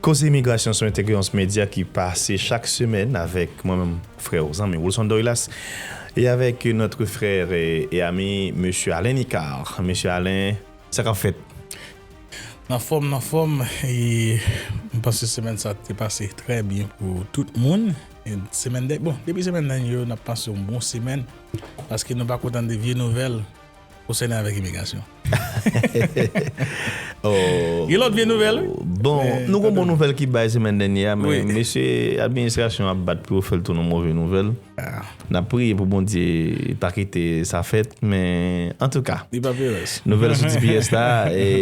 Koze Imigrasyon sou Entegre Ons Media ki pase chak semèn avèk mwen menm frè ou zanmi Wilson Doilas e avèk notre frère et ami Mesye Alain Nicard. Mesye Alain, sa k ap fèt? Nan fòm, nan fòm e m panse semèn sa te pase trè byen pou tout moun. Semèn dè bon depi semèn dènye yo n ap pase yon bon semèn paske nou pako tande vye nouvèl. Ou sènen avèk imigrasyon. Gen lòt vye nouvèl wi. Bon, nou gen yon bon nouvèl ki bay semèn dènyè a, men mesye administrasyon ap bat pou yo fè l tounen yon move nouvèl. N ap priye pou Bondye pa kite sa fèt, men antouka. Li pa vle rès. Nouvèl sou tps la,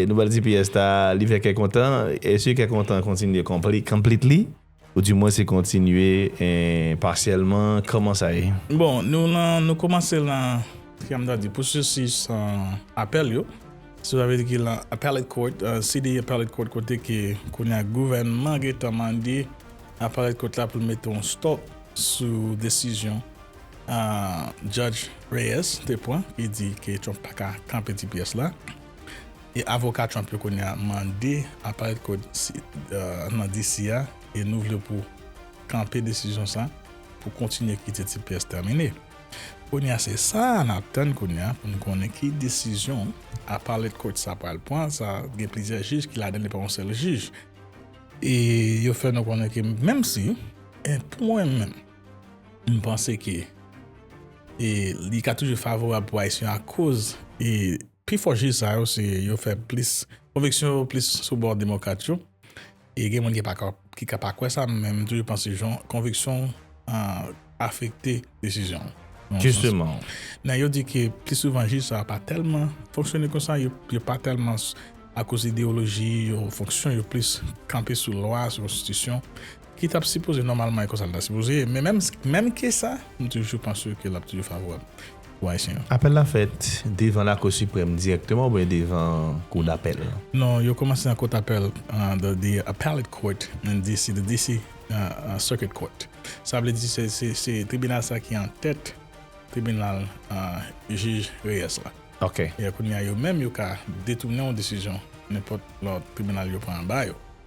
nouvèl tps la li fè kè kontan, e si kè kontan kontinye konplitli. Ou di mwen se kontinye pasyèlman, kòman sa ye? Bon, nou lan, nou kòmanse lan, kijan m ta di, pwosesis apèl yo. Sa vle di ki lan Appellate Court, CDE Appellate Court kote ke kounye a gouvènman gen tan mande Appellate Court la pou l mete yon stop sou desizyon Judge Reyes te pran ki di ke Trump pa ka kanpe tps la. E avoka Trump yo kounye a mande aparèt kod nan DC a e nou vle pou kanpe desizyon sa pou kontinye kite tps tèmine. Kounye a se sa a nap tann kounye a pou nou konnen ki desizyon aparèt kod sa pral pran sa gen plizyè jij ki ladan li pa yon sèl jij. E yo fè nou konnen ke menm si e pou mwen menm m panse ke e li ka toujou favorab pou ayisyen akoz e. Pi fò jij sa yo se yo fè plis, konviksyon yo plis sou bò demokrat yo. E gen moun ki pa ka, ki ka pa kwè sa, men m toujou panse jan konviksyon w afekte desizyon w. Jisteman. Men yo di ke plis souvan jij sa yo pa tèlman fonksyone konsa, yo pa tèlman akoz ideyoloji yo, fonksyon yo plis kanpe sou lwa, sou konstitisyon, Ki tap sipoze nòmalman e konsa li ta sipoze ye. Men menm menm ke sa, m toujou panse ke lap toujou favorab pou Ayisyen yo. Apèl la fèt devan Lakou Siprèm dirèkteman oubyen devan Kou Dapèl? Non, yo kòmanse nan Kot Apèl, the Appellate Court in DC, the DC Circuit Court. Sa vle di se se tribinal sa ki an tèt tribinal jij Reyes la. Ok. E kounye a yo menm yo ka detounen yon desizyon nenpòt lòt tribinal yo pran anba yo.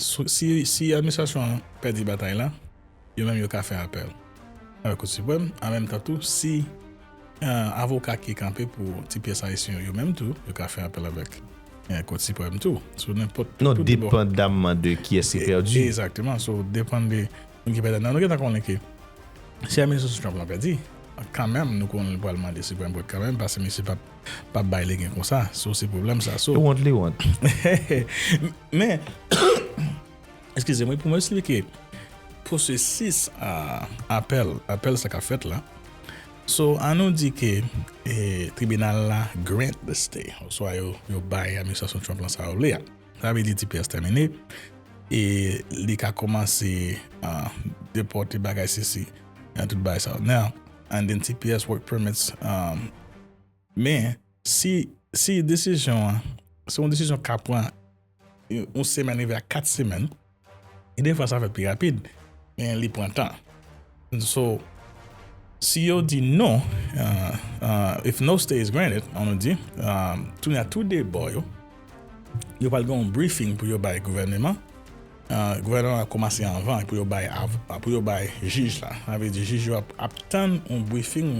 Si administrasyon an pèdi batay la, yo menm yo ka fè apèl avèk Kou Siprèm, an menm tan tou si avoka ki kanpe pou ti pyès ayisyen yo, yo menm tou yo ka fè apèl avèk Kou Siprèm tou, sou nenpòt tou de bò. Non, depandamman de kiyès ki pèdi. Egzakteman, sou depann de moun ki pèdan. Nou gentan konnen ke si administrasyon Trump la pèdi, kan menm nou konnen li pral mande Siprèm Kòt kan menm, pase misye pap. Pap bay legen konsa. So se pwoblèm sa so. Li wont li wont. Men Eskize mwen pou mwen esplike pwosesis apèl apèl sa kap fèt la. So an nou di ke tribinal la grant the stay oswa yo bay administrasyon Trump lan sa yo vle a. Sa vle di tps tèmine e li ka kòmanse depòte bagay sesi e tout bagay sa yo. and then tps work permits um. Men, si si desizyon an se yon desizyon ka pran yon semèn rive a 4 semèn, e defwa sa fèt pi rapid, men li pran tan. So, si yo di non, uh, uh, if no stay is granted, an nou di, um, tounen a tou de bò yo, Yo pral gen yon briefing pou yo bay gouvèneman an, gouvèneman an ap kòmanse anvan pou yo bay avoka, pou yo bay jij la, sa vle di jij yo ap tann yon briefing,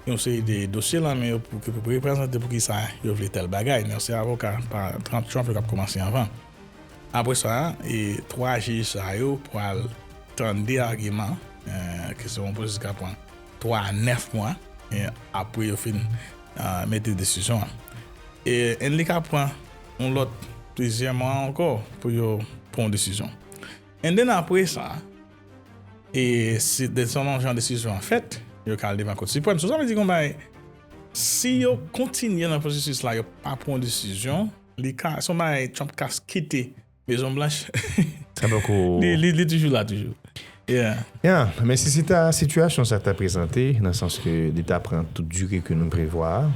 yon seri de dosye lan men yo pou yo reprezante pou kisa yo vle tèl bagay, men se avoka pa Trump yo kap kòmanse anvan. Apre sa, 3 jij sa yo pral tande agiman ke se yon pwosesis kap pran 3 a 9 mwa apre yo fin mete desizyon an en li ka pran yon lòt plizyè mwa ankò pou yo pran yon desizyon en den apre sa e si de son lon jan desizyon an fèt yo ka al devan kot siprèm sou sa vle di kon bay si yo kontinye nan pwosesis la yo pa pran yon desizyon li ka son bay trump ka kite. Maison Blanche. Sa poko. Li toujou la toujou. Yeah. Yeah, men si se ta sitiyasyon sa ta prezante, nan sans ke li ta pran tout dire ke nou prevwa a,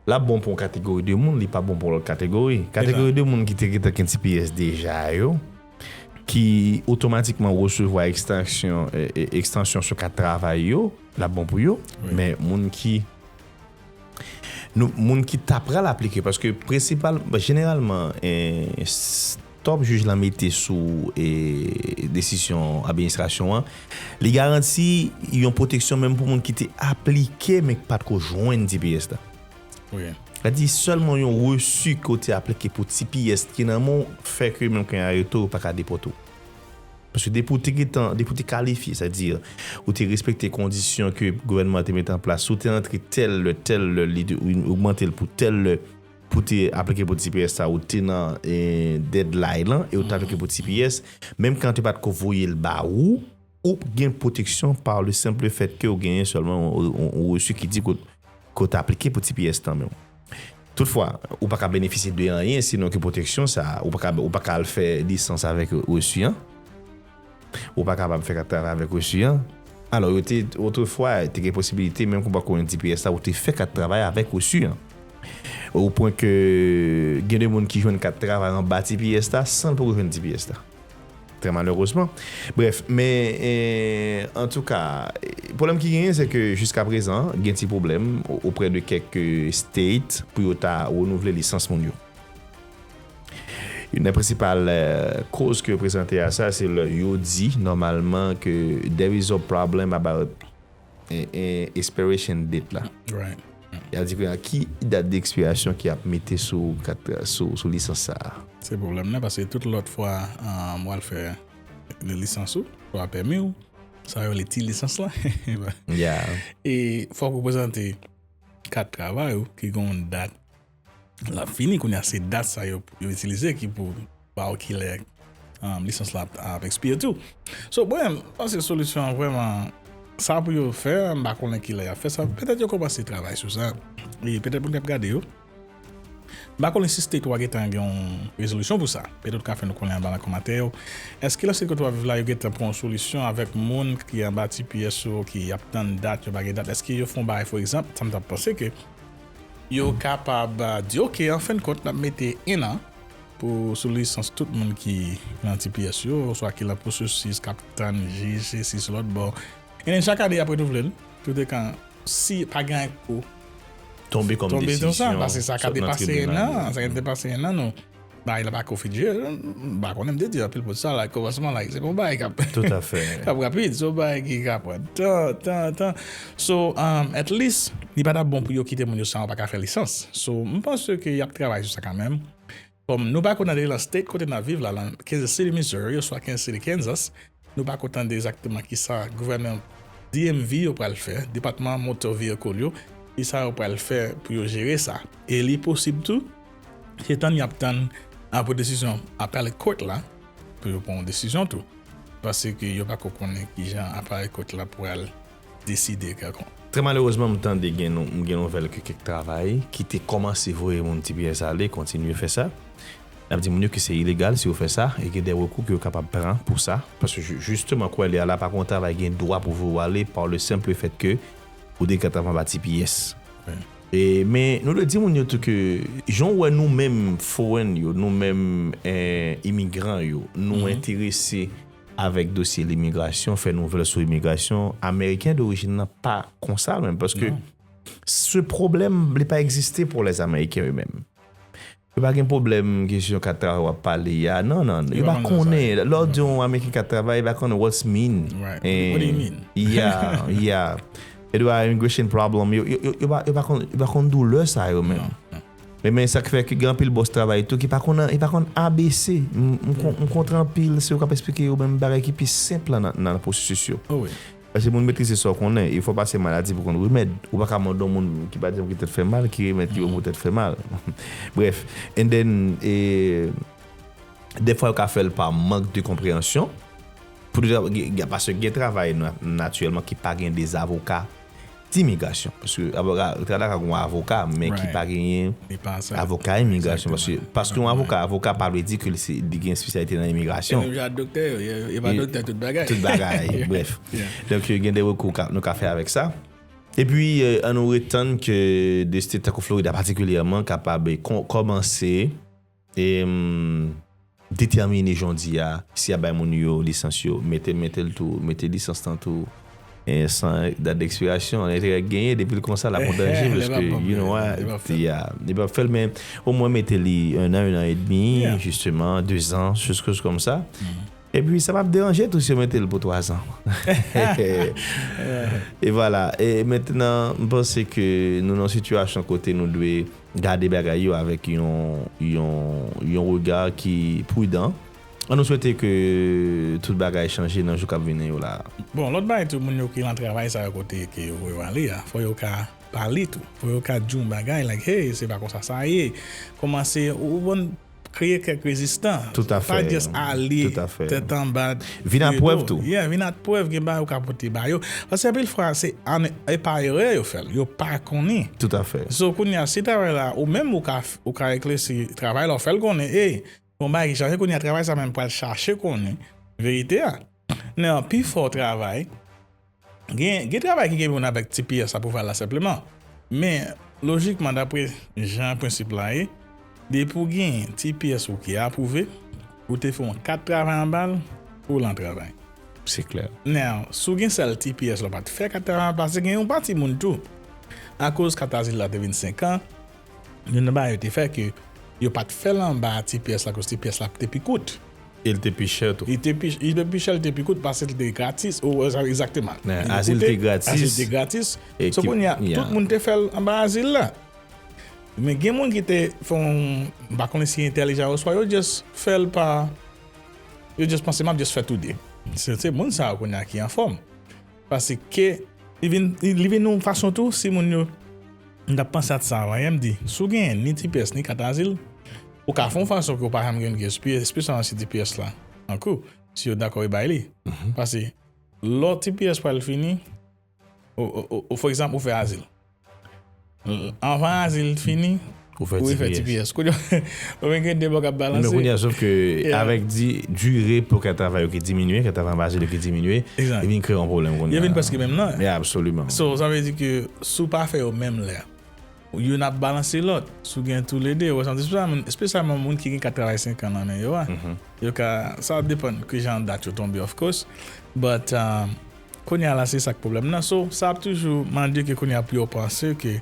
l ap bon pou yon kategori de moun, li pa bon pou lòt kategori. Kategori de moun ki te gentan gen tps deja yo, ki otomatikman resevwa ekstansyon, ekstansyon sou kat travay yo, l ap bon pou yo, men moun ki. Nou moun ki ta pral aplike paske prensipal jeneralman stop jij la mete sou desisyon administrasyon an li garanti yon pwoteksyon menm pou moun ki te aplike men ki patko jwenn tps la sa di sèlman yon resu ke w te aplike pou tps ki nan men w fè ke menm kan yo arete w yo paka depòte w. Paske depi ou te gentan, depi ou te kalifye, sa di, ou te respekte kondisyon ke gouvènman an te mete an plas, si w te antre tèl lè, tèl lè, li te ogmante l pou tèl lè, pou w te aplike pou tps la, ou te nan deadline lan e ou te aplike pou tps, menm kan yo te pa t ko voye l ba ou, ou gen pwoteksyon par le simple fait ke ou genyen sèlman yon resu ki di ke ke w ta aplike pou tps nan men w. Toutfwa, ou pa ka benefisye de anyen sinon ke pwoteksyon sa a. Ou pa ka al fè lisans avèk resu an. Ou pa kapab fè kat-travay avèk resu an. Alò, yo te, otrefwa, te gen posibilite, menm ke w pa konnen tps la, ou te fè kat-travay avèk resu an. Opwen ke gen de moun ki jwenn kat-travay anba tps la san l poko jwenn tps la. Trè malerezman. Brèf, men antouka, pwoblèm ki genyen se ke jiska prezan gen ti pwoblèm oprè de kèk state pou yo ta renouvle lisans moun yo. Youn nan prensipal koz ke yo prezante a sa se lè yo di nòmalman ke there is a problem about. expiration date la. Ya di kounya ki dat de ekspirasyon ki ap mete sou kat sou lisans sa a. Se pwoblèm nan paske tout lòt fwa m wal fè le lisans ou oswa pèmi ou sa yo rele ti lisans la e fòk ou prezante kat travay ou ki gon dat lap fini kounya se dat sa yo yo itilize ki pou ba ou kilè lisans la ap ekspire tou so mwen m panse solisyon an vrèman sa pou yo fè m pa konnen kilè yap fè sa petèt yo kòmanse travay sou sa e petèt moun kap gade yo m pa konnen si state ou a gentan gen yon rezolisyon pou sa petèt ou ka fè nou konnen anba nan kòmantè yo èske nan state kote wap viv la yo gentan pran yon solisyon avèk moun ki anba tps yo ki ap tann dat yo pa gen dat èske yo fè yon bagay fò egzanp sa m tap panse ke Yo kapab di ok an fen kont nap mete 1 an pou sou lisans tout moun ki nan tps yo oswa ki lan pwosesis kap tann jij se si se lòt bò en chak ane yap renouvle l tout ekan si pa gen anyen ki pou tonbe kòm desizyon sot nan tribinal yo. Bagay la pako fin jwe, m pa konnen, m te di anpil moun sa la kòmansman la, se pa yon bagay k ap, Toutafè. K ap rapid, se yon bagay ki ka pran tan, tan, tan. So, at least, li pa t ap bon pou yo kite moun yo san yo pa ka fè lisans. So, m panse ke y ap travay sou sa kanmenm. Kòm nou pa konnen nan State kote n ap viv la, lan Kansas City, Missouri, oswa Kansas City, Kansas, Nou pa ko tande egzakteman ki sa gouvènman DMV yo pral fè, Depatman Motor Vehicle, yo, ki sa yo pral fè pou yo jere sa. E li posib tou, se tann y ap tann apre desizyon Appellate Court la pou yo pran yon desizyon tou. Paske yo pa ko konnen ki jan Appellate Court la pral. deside kè kont. Trè malerezman m tande gen m gen nouvèl ke kèk travay ki te kòmanse voye moun ti pyès ale kontinye fè sa. N ap di moun yo ke se ilegal si yo fè sa e gen de rekou ke yo kapab pran pou sa. Paske jisteman kou elè a la pa gon travay gen dwa pou voye ou ale pa le senple fèt ke ou te gentan anba ti pyès. E men nou dwe di moun yo tou ke jan ou wè nou menm forenn yo, nou menm imigran yo nou enterese avèk dosye limigrasyon, fè nouvèl sou imigrasyon, ameriken dorijin nan pa konsa menm paske se pwoblèm li pa egziste pou lè ameriken yo menm. Yo pa gen pwoblèm kesyon kat travay wap pale a, nan nan, yo pa konnen, lè w di yon ameriken kat travay, li pa konnen what's mean, ya, ya, yo dwe a immigration problem, yo pa konn doulè sa yo menm. Wi men sak fè ke gen anpil bòs travay tou ki pa konn yo pa konn abc m kontre anpil se ou kap esplike yo menm bagay ki pi senp lan nan pwosesis yo paske moun metrize sa ou konnen e fò pase maladi pou konn remèd ou pa ka mande yon moun ki pa janm gen tèt fè mal ki remèd ki bon pou tèt fè mal brèf and then e dèfwa yo ka fèl pa mank de konpreyansyon pou paske gen travay natirèlman ki pa gen de zavoka. di migrasyon paske avoka Canada ka gen yon avoka men ki pa genyen avoka imigrasyon paske paske yon avoka avoka pa vle di ke li gen espesyalite nan imigrasyon e menm jan ak doktè yo yo pa doktè tout bagay tout bagay brèf donk gen de rekou nou ka fè avèk sa epi an nou ret tann ke de state tankou Florida patikilyèman kapab kòmanse. E m detèmine jodi a, si y ap bay moun yo lisans yo, mete mete l tou, mete lisans lan tou san dat dekspirasyon. An enterè k genyen, depi l konsa l ap an danje paske you know why, ya. Li p ap fè l men omwen mete li ennan, ennan edmi, jisteman, dezan, choscose kòm sa. Epi sa pap deranje tou si yo mete l pou 3 zan. E vwala. E mentnan m panse ke nou nan yon sitiyasyon kote nou dwe gade bagay yo avèk yon rega ki prudan. An nou swete ke tout bagay chanje nan jou kap vini yo la a. Bon, lòt bagay tou moun yo ki lan travay sa yo kote ke yo voye w ale a, fò yo ka pale tou. Fò yo ka di w yon bagay like hey se pa konsa sa ye. Kòmanse ou konn. Kreye kèk rezistan. Tout a fè. Pa just ale. Tout a fè. Tèt anba. Vin ak prèv tou. Yeah, vin ak prèv gen bagay ou ka pote ba yo. Paske anpil fwa se an e pa erè yo fèl. Yo pa konnen. Tout a fè. So kounya si travay la ou menm ou ka ou ka eklèsi travay la ou fèl konnen ey gon bagay ki chaje kounya travay sa menm pral chache konnen verite a nan pifò travay. Gen travay ki gen pou wè avèk tps la pou fè la senpleman. Men, lojikman dapre jan prensip la ye, depi ou gen tps ou ki apwouve, ou te fè yon kat travay anba l, ou lan travay. Se klè. Now, si w gen sèl tps la ou pa t fè kat travay paske gen yon pati moun tou, akoz kat azil la te vin 5 an, youn nan bagay yo te fè ke yo pa t fè l anba tps la akoz tps la te pi kout. E l te pi chè tou. Li te pi chè, li te pi chè, li te pi kout paske l te gratis. Ou wè sa egzakteman. Li te Azil te gratis. Azil te gratis. E So kounye a, tout moun te fè l anba azil la. Men gen moun ki te fè yon, m pa konnen si entèlijan oswa yo just fè l pa, yo just panse m ap just fè tou de. Se se moun sa yo kounye a ki anfòm. Paske li vin, li vin yon fason tou si moun yo, m t ap panse ak sa avan yè, m di si w genyen ni tps ni kat azil, Ou ka fon fason ke ou pa janm gen yon gsp, espesyalman si tps la an kou, si yo dakò yo bay li. Pase lò tps pral fini, ou for egzanp ou fè azil. Anvan azil fini, ou refè tps. Kounye a, ou vin gen 2 bò k ap balanse. Men kounye a, sof ke avèk di dire pou kè travay yo ki diminye, kè travay anvan azil yo ki diminye, li vin kreye yon pwoblèm kounye a. Yo vin prèske menm nan. Absoliman. So, sa vle di ke si ou pa fè yo menm lè. Youn ap balanse lòt. Si w gen toulede, yo resanti sou sa. Espesyalman moun ki gen kat travay senkan nan men yo a. Yo ka, sa ap depann ki jan dat yo tonbe of course. But, kounye a la se sa k pwoblèm nan. So, sa ap toujou mande ke kounye a pou yo panse ke,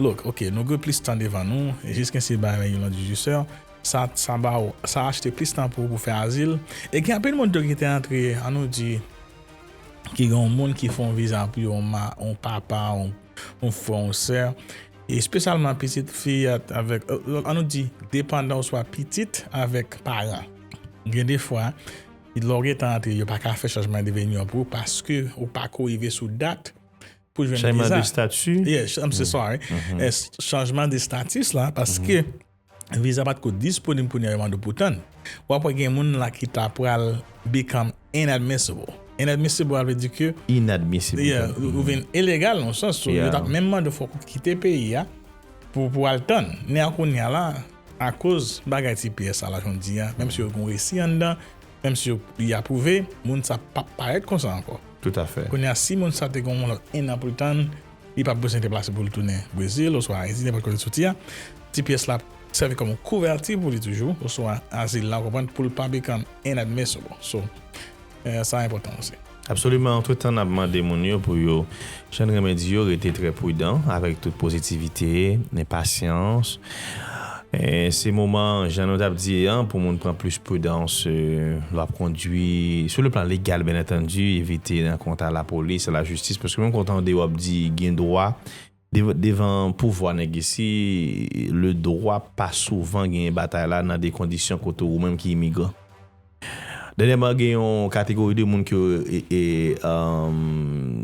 look, ok, nou gen plis tan devan nou, jiskensi ba yon yon dijisè, sa, sa ba ou, sa achte plis tan pou ou pou fè azil. E gen anpil moun tou ki te antre, an nou di, ki gen yon moun ki fè yon viza pou yo, yon ma, yon papa, yon. yon frè yon sè espesyalman pitit fi avèk an nou di depandan oswa pitit avèk paran gen defwa lè w gentan antre yo pa ka fè chanjman de venue pou ou paske ou pa ko rive sou dat pou jwenn viza changement de statut yes I'm so sorry yes changement de status la paske Viza pat ko disponib kounya yo mande pou tann. Wap wè gen moun la ki ta pral become inadmissible. Inadmissible a vle di ke. Inadmissible. Yeah, ou vin ilegal nan sans tou. Yo tap menm mande fòk ou kite peyi a pou pou al tann. Ni a kounya la akoz bagay tps a la jan w di a, menm si yo gen yon resi anndan, menm si yo li apwouve, moun sa pap parèt konsa ankò. Tout afè. Kounya si moun sa te gen yon lòt 1 an pou l tann. Li pap bezwen deplase pou l tounen Brezil oswa Ayiti, nenpòt kote l soti a. Tps la ap sèvi kòm yon kouvèti pou li toujou, oswa azil la, ou konprann, pou l pa become inadmissible. So, sa a enpòtan osi. Absoliman, antretan n ap mande moun yo pou yo, jan n renmen di yo, rete trè prudan, avèk tout pozitivite, pasyans. Se moman jan nou tap di an pou moun pran plis pridans lè wap kondwi sou le plan legal byen antandi evite nan kont a lapolis a lajistis paske menm ke w tande wap di gen dwa devan pouvwa nèg isi le dwa pa souvan genyen batay la nan de kondisyon kote ou menm ki imigran. Dènyèman gen yon kategori de moun ki yo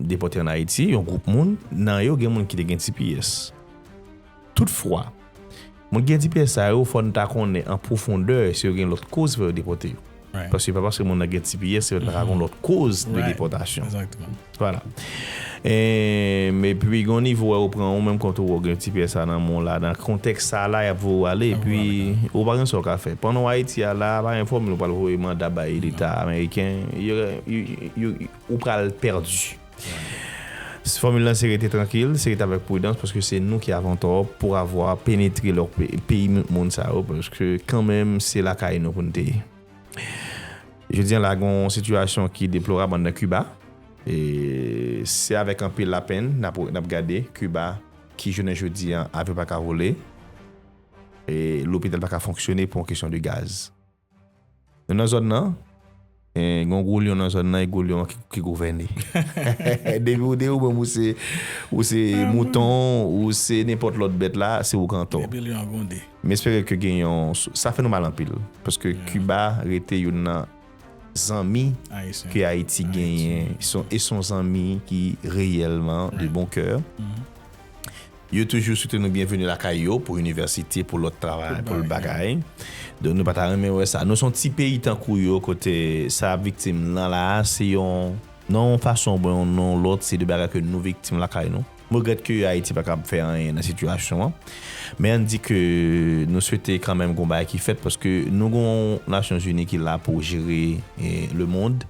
depòte an Ayiti, yon gwoup moun, nan yo gen moun ki te gen tps. Toutfwa, moun ki gen tps sa yo fò n ta konnen an pwofondè si yo gen lòt koz ki fè yo depòte yo. Paske se pa paske moun nan gen tps se yo ta ka gen lòt koz de depòtasyon. Voilà. Emm epi gon nivo wè ou pran ou menm kont ou ou gen ti pyè sa nan men w la nan kontèks sa la yap voye w ale epi ou pa gen sa w ka fè pandan w Ayiti a la pa gen fòmil ou pral voye manda bay leta ameriken ou pral pèdi fòmil la se rete trankil se rete avèk pridans paske se nou ki avon tò pou avwa penetre lò peyi moun sa yo paske kanmenm se lakay nou pou n te ye. Jodi an la gen yon sitiyasyon ki deplorab anndan Kiba. E se avèk anpil lapenn n ap gade Kiba ki jounen jodi an avyon pa ka vole e lopital pa ka fonksyone pou yon kesyon de gaz. Nou nan zòn nan, e gen yon gwo lyon nan zòn nan e gwo lyon an ki gouvène. Depi ou di ou menm ou se mouton, ou se nenpòt lòt bèt la, se ou ki antò. Depi lyon an gwonde. M espere ke gen yon sou. Sa fè nou mal anpil paske Kiba rete youn nan zanmi ke Ayiti genyen e son zanmi ki reyèlman de bon kè. Yo toujou swete nou byenveni lakay yo pou inivèsite, pou lòt travay, pou lòt bagay. Donk nou pa ta renmen wè sa. Nou se yon ti peyi tankou yo kote sa y ap viktim nan la a se yon nan yon fason oubyen yon nan yon lòt se de bagay ke nou viktim lakay nou. M regrèt ke Ayiti pa kab fè anyen nan sitiyasyon an. Men ann di ke nou swete kanmenm gon bagay ki fèt paske nou gon Nasyon Zini ki la pou jere lemond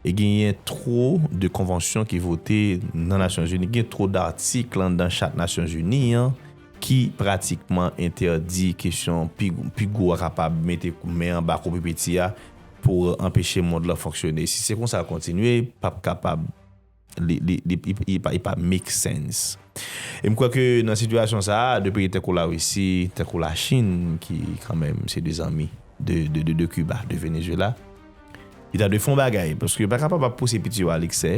e genyen two de konvansyon ki vote nan Nasyon Zini, gen two datik landan chat Nasyon Zini an ki pratikman entèdi kesyon pi gwo a kapab mete men anba kou pi piti a pou anpeche mond lan fonksyone. Si se konsa l kontinye, pap kapab. Li pa make sense. E m kwè ke nan sitiyasyon sa a, 2 peyi tankou Larisi, tankou Lachin ki kanmenm se 2 zanmi de Kiba, de Venezyela, yo ta dwe fè yon bagay. Paske yo pa kapab ap pouse piti yo a leksè,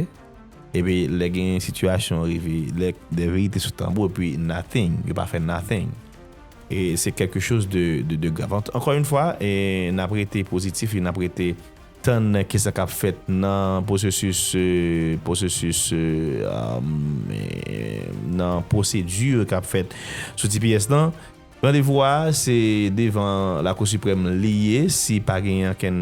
epi lè gen sitiyasyon rive, lè de verite sou tanbou epi nothing, yo pa fè nothing. E se kèlke choz de grav. Ankò yon fwa, n ap rete pozitif e n ap rete. Tann ki sa k ap fèt nan pwosesis pwosesis nan pwosedi k ap fèt sou tps lan. Randevou a se devan Lakou Siprèm li ye si pa genyen okenn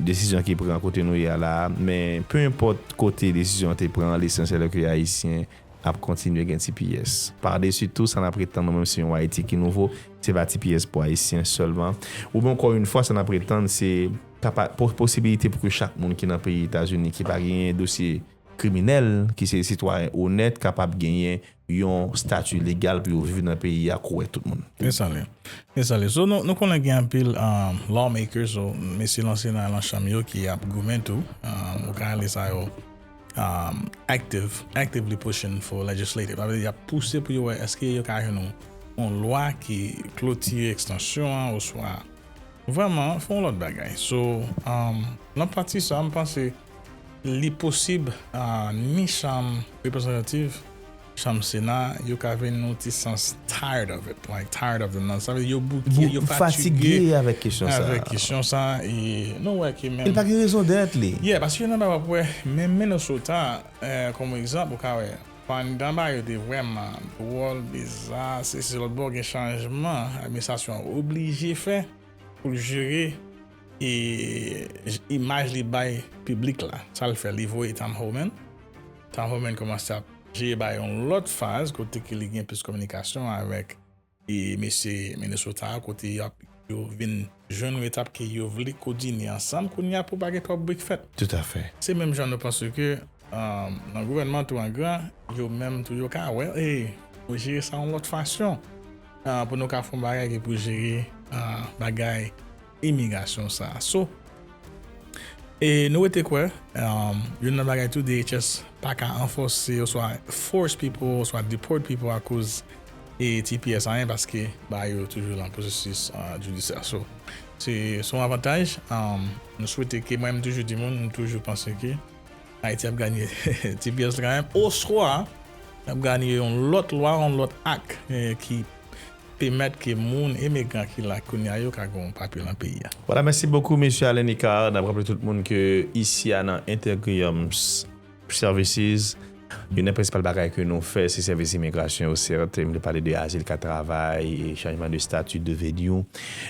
desizyon ki pran kote nou ye a la a. Men pe enpòt kote desizyon an te pran, lesansyèl ke Ayisyen ap kontinye gen tps. Padesi tou sa n ap ret tann nou menm se yon Ayiti ki nouvo, se pa tps pou Ayisyen sèlman. Oubyen ankò youn fwa sa n ap ret tann se. Posibilite pou ke chak moun ki nan peyi Etazini ki pa genyen dosye kriminèl, ki se sitwayen onèt kapab genyen yon stati legal pou yo viv nan peyi a kouwè tout moun. Yes ale. Yes ale. So nou konnen gen anpil lawmakers ou mesye lan sena lan chanm yo ki ap goumen tou, ou ka rele sa yo active, actively pushing for legislative. Sa vle di y ap pouse pou yo wè èske yo ka jwenn yon lwa ki klotire ekstansyon an oswa. Vrèman fè yon lòt bagay so nan pati sa m panse li posib ni chanm reprezantativ chanm sena yo ka vin yon ti sans tired of it like tired of the sa vle di yo bouke yo fatige avèk kesyon sa e nou wè ke menm e l pa gen rezondèt li yeah paske nan bagay w ap wè menm Minnesota kòm egzanp ou ka wè. Pandan bagay yo te vrèman dwòl, biza, sesi lòtbò gen chanjman administrasyon an oblije fè pou l jere imaj li bay piblik la. Sa l fè? Li voye Tom Homan. Tom Homan kòmanse ap jere bay yon lòt faz kote ke li gen plis kominikasyon avèk. E mesye Minnesota kote yap yo vin jwenn nou etap ke yo vle kodine ansanm kounya pou pa gen twòp bri k fèt. Tout a fè. Se menm jan nou panse ke nan gouvènman tou an gran yo menm tou yo ka wè e pou jere sa yon lòt fasyon pou nou ka fon bagay ke pou jere bagay Imigrasyon sa a so. E nou rete kwè, youn nan bagay tou DHS pa ka anfòse oswa force people oswa deport people akoz e tps anyen paske bagay yo toujou lan pwosesis jidisyè. So, se son avantaj. Nou swete ke, mwen menm m toujou di moun, m toujou panse ke Ayiti ap ganye tps la kanmenm oswa nap ganye yon lòt lwa, yon lòt ak ki. Pemèt ke moun emegran ki la kounya yo ka gen yon papye lan peyi a. Voilà merci beaucoup Mesye Alain Nicard nap raple tout moun ke isi a nan Intergrium services youn nan prensipal bagay ke nou fè se sèvis imigrasyon yo certes m te pale de azil kat travay e chanjman de statut de venue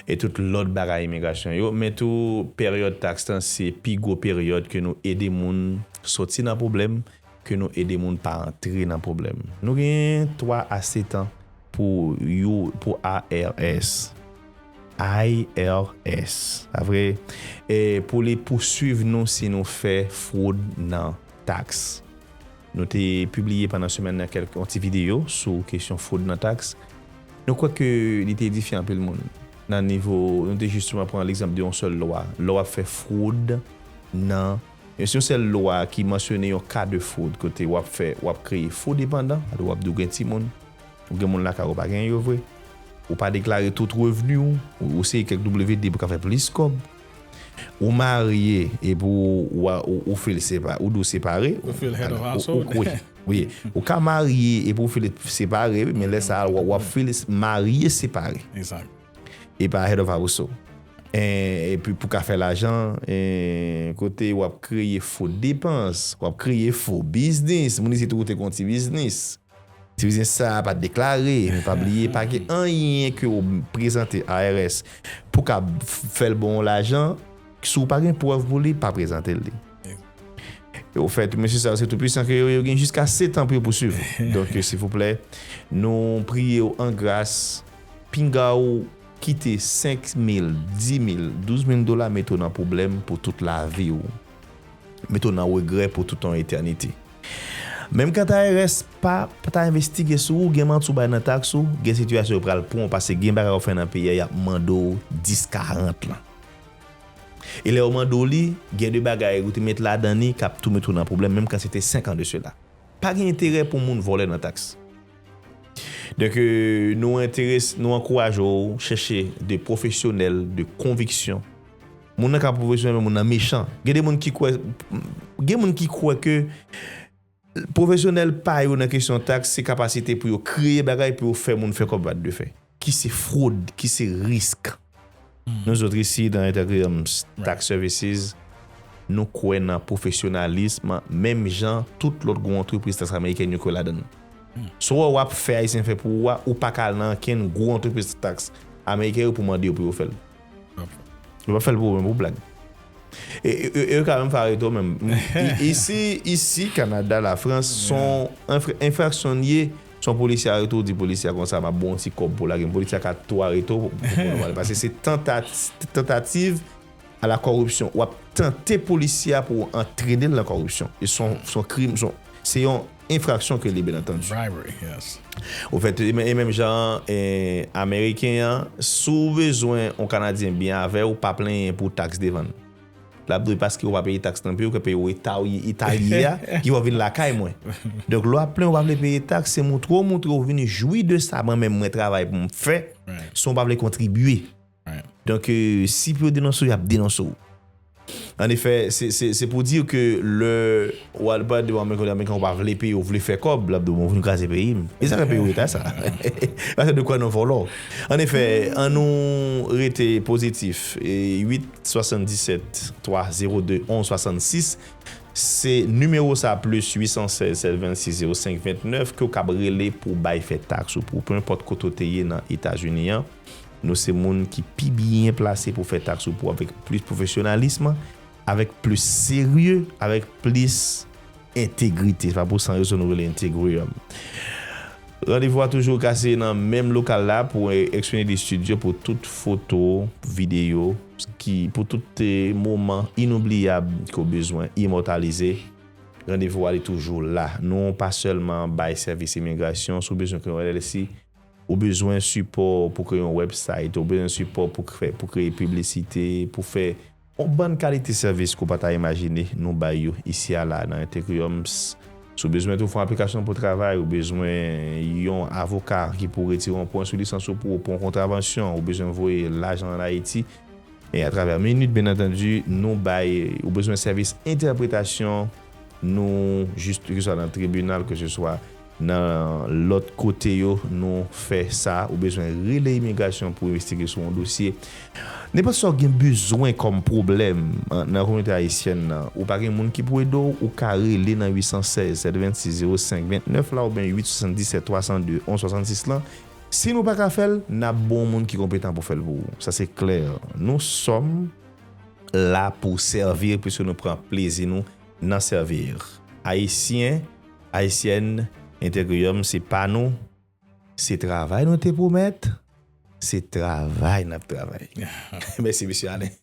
e tout lòt bagay imigrasyon yo men tou peryòd tax lan se pi gwo peryòd ke nou ede moun sòti nan pwoblèm ke nou ede moun pa antre nan pwoblèm. Nou genyen 3 a 7 an pou you pou IRS. IRS. Pa vre? E pou li pouswiv nou si nou fè fwod nan taks. Nou te pibliye pandan semèn nan kèlk yon ti videyo sou kesyon fwod nan taks. Nou kwè ke li te edifye anpil moun. Nan nivo, nou te jisteman pran legzanp de yon sèl lwa. Lè w ap fè fwod nan. Yon si yon sèl lwa ki mansyone yon ka de fwod kote wap fè wap kreye fo depandan, alò wap di ou gen timoun, ou gen moun lakay ou pa genyen yo vre, ou pa deklare tout revni w, ou eseye kèk WD pou ka fè plis kòb, ou marye epi ou fil separe, ou di w separe, ou ka marye epi ou fil separe wi men lè sa wap fil marye separe. E pa head of household. E pi pou ka fè lajan, e kote wap kreye fo depans, wap kreye fo biznis, moun isit ou te gon ti biznis. Ti biznis sa a pat deklare, men pa bliye pa gen anyen ke ou prezante IRS pou ka fè l bon ou lajan, si ou pa gen prèv pou li, pa prezante li. E ou fè tou mesye sa yo se tou pwisan ke yo, yo gen jiska setan pou yo pouswiv ou. Donk silvouplè, nou priye ou an gras. Pinga ou kite 5 mil, 10 mil, 12 mil dola mete w nan pwoblèm pou tout lavi w. Mete w nan regrè pou tout yon etènite. Menm kanta IRS pa ta envestige sou ou, gen manti w bay nan taks ou, gen sitiyasyon yo pral pran w pase gen bagay ou fè nan peyi a y ap mande w 10 40 lan. E lè yo mande w li, gen de bagay ou te met ladan li k ap tou mete w nan pwoblèm menm kan se te 5 an de sela. Pa gen enterè pou moun vòlè nan taks. Donk nou enterese, nou ankouraje w chèche de pwofesyonèl de konviksyon. Moun nan ka pa pwofesyonèl men moun nan mechan. Gen de moun ki kwè, gen moun ki kwè ke pwofesyonèl pa yo nan kesyon taks se kapasite pou yo kreye bagay pou yo fè moun fè kòb wat de fè. Ki se fwod, ki se risk. Nou zot isi nan Intergrams Tax Services, nou kwè nan pwofesyonalism menm jan tout lòt gwo antrepriz taks amerikèn yo kwè ladann. Si w wè w ap fè Ayisyen fè pou ou a, ou pa ka al nan ankenn gwo antrepriz taks ameriken yo pou w mande yo pou yo fè l. Yo pa fèl pou mwen pou blag. E yo ka menm fare to menm. Isi, isi, Kanada, la Frans, son enfraksyon li ye, son polisye arete ou di polisye a konsa map bon ti kob pou lagem. Polisye a ka tou arete ou pou moun wale. Pase se tentativ a la koripsyon. Wap tante polisye a pou antrene l nan koripsyon. E son krim, se yon. enfraksyon ke li byen antandu. Bribery, yes. Ou fè tou, e menm jan Ameriken an, si w bezwen yon Kanadyen byen avè w, pa plenyen pou taks devan l. L ap dwe paske ou pa peye taks nan peyi w, ke peyi w eta w ye, eta li ye a, ki fè w vin lakay mwen. Donk, lè w ap plenyen ou pa vle peye taks, se montre w montre ou vin jwi de sa mwen menm mwen travay pou m fè, san w pa vle kontribye. Donk, si pou yo denonse w, y ap denonse w. An efè, se pou di ke lè w al pale devan ameriken, lè ameriken w pa vle peye, w vle fè kòb, l ap di w bon, w vin kraze peyi m. E sa fè peyi w eta sa? Paske de kwè nan vòlò. An efè, an nou rete pozitif. 8 77 302 11 66 se nimewo sa plis 816 726 05 29 ke w kab rele pou w bay fè taks ou. Pou penenpòt kote w te ye nan Etazini an, Nou se moun ki pi byen plase pou fè taks ou pou avèk plis pwofesyonalism, avèk plis serye, avèk plis entegrite. Se pa pou san rezon nou rele Integrium. Randevou a toujou ka se nan menm lokal la pou Xfinity Studio pou tout foto, videyo, ki pou tout moman inoubliyab ke w bezwen imòtalize. Randevou a li toujou la. Nou pa sèlman bay sèvis imigrasyon, si w bezwen kreye yon LLC, Ou bezwen sipò pou kreye yon wèbsayt, ou bezwen sipò pou fè, pou kreye piblisite, pou fè yon bann kalite sèvis ke w pa ta imajine, nou bay yo isi a la nan Ethereums. Si w bezwen tou fè yon aplikasyon pou travay, ou bezwen yon avoka ki pou retire yon pwen sou lisans ou pou ou, pou yon kontravansyon, ou bezwen voye lajan an Ayiti, e atravè Minute, byen antandi, nou bay, ou bezwen sèvis entèpretasyon, Nou jis ke se swa nan tribinal ke se swa nan lòt kote yo nou fè sa ou bezwen rele imigrasyon pou envestige sou yon dosye. Nenpòt sa ou gen bezwen kòm pwoblèm nan kominote ayisyèn nan ou pa gen moun ki pou ede w ou ka rele nan 816 726 05 29 la oubyen 877 302 11 66 lan. Si nou pa ka fè l, n ap ba w moun ki konpetan pou fè l pou ou. Sa se klè. Nou sòm. la pou servir puisque nou pran plezi nou nan servir Ayisyen Ayisyèn Integrium se pa nou se travay nou te pwomèt se travay nap travay mèsi Mesye Alain.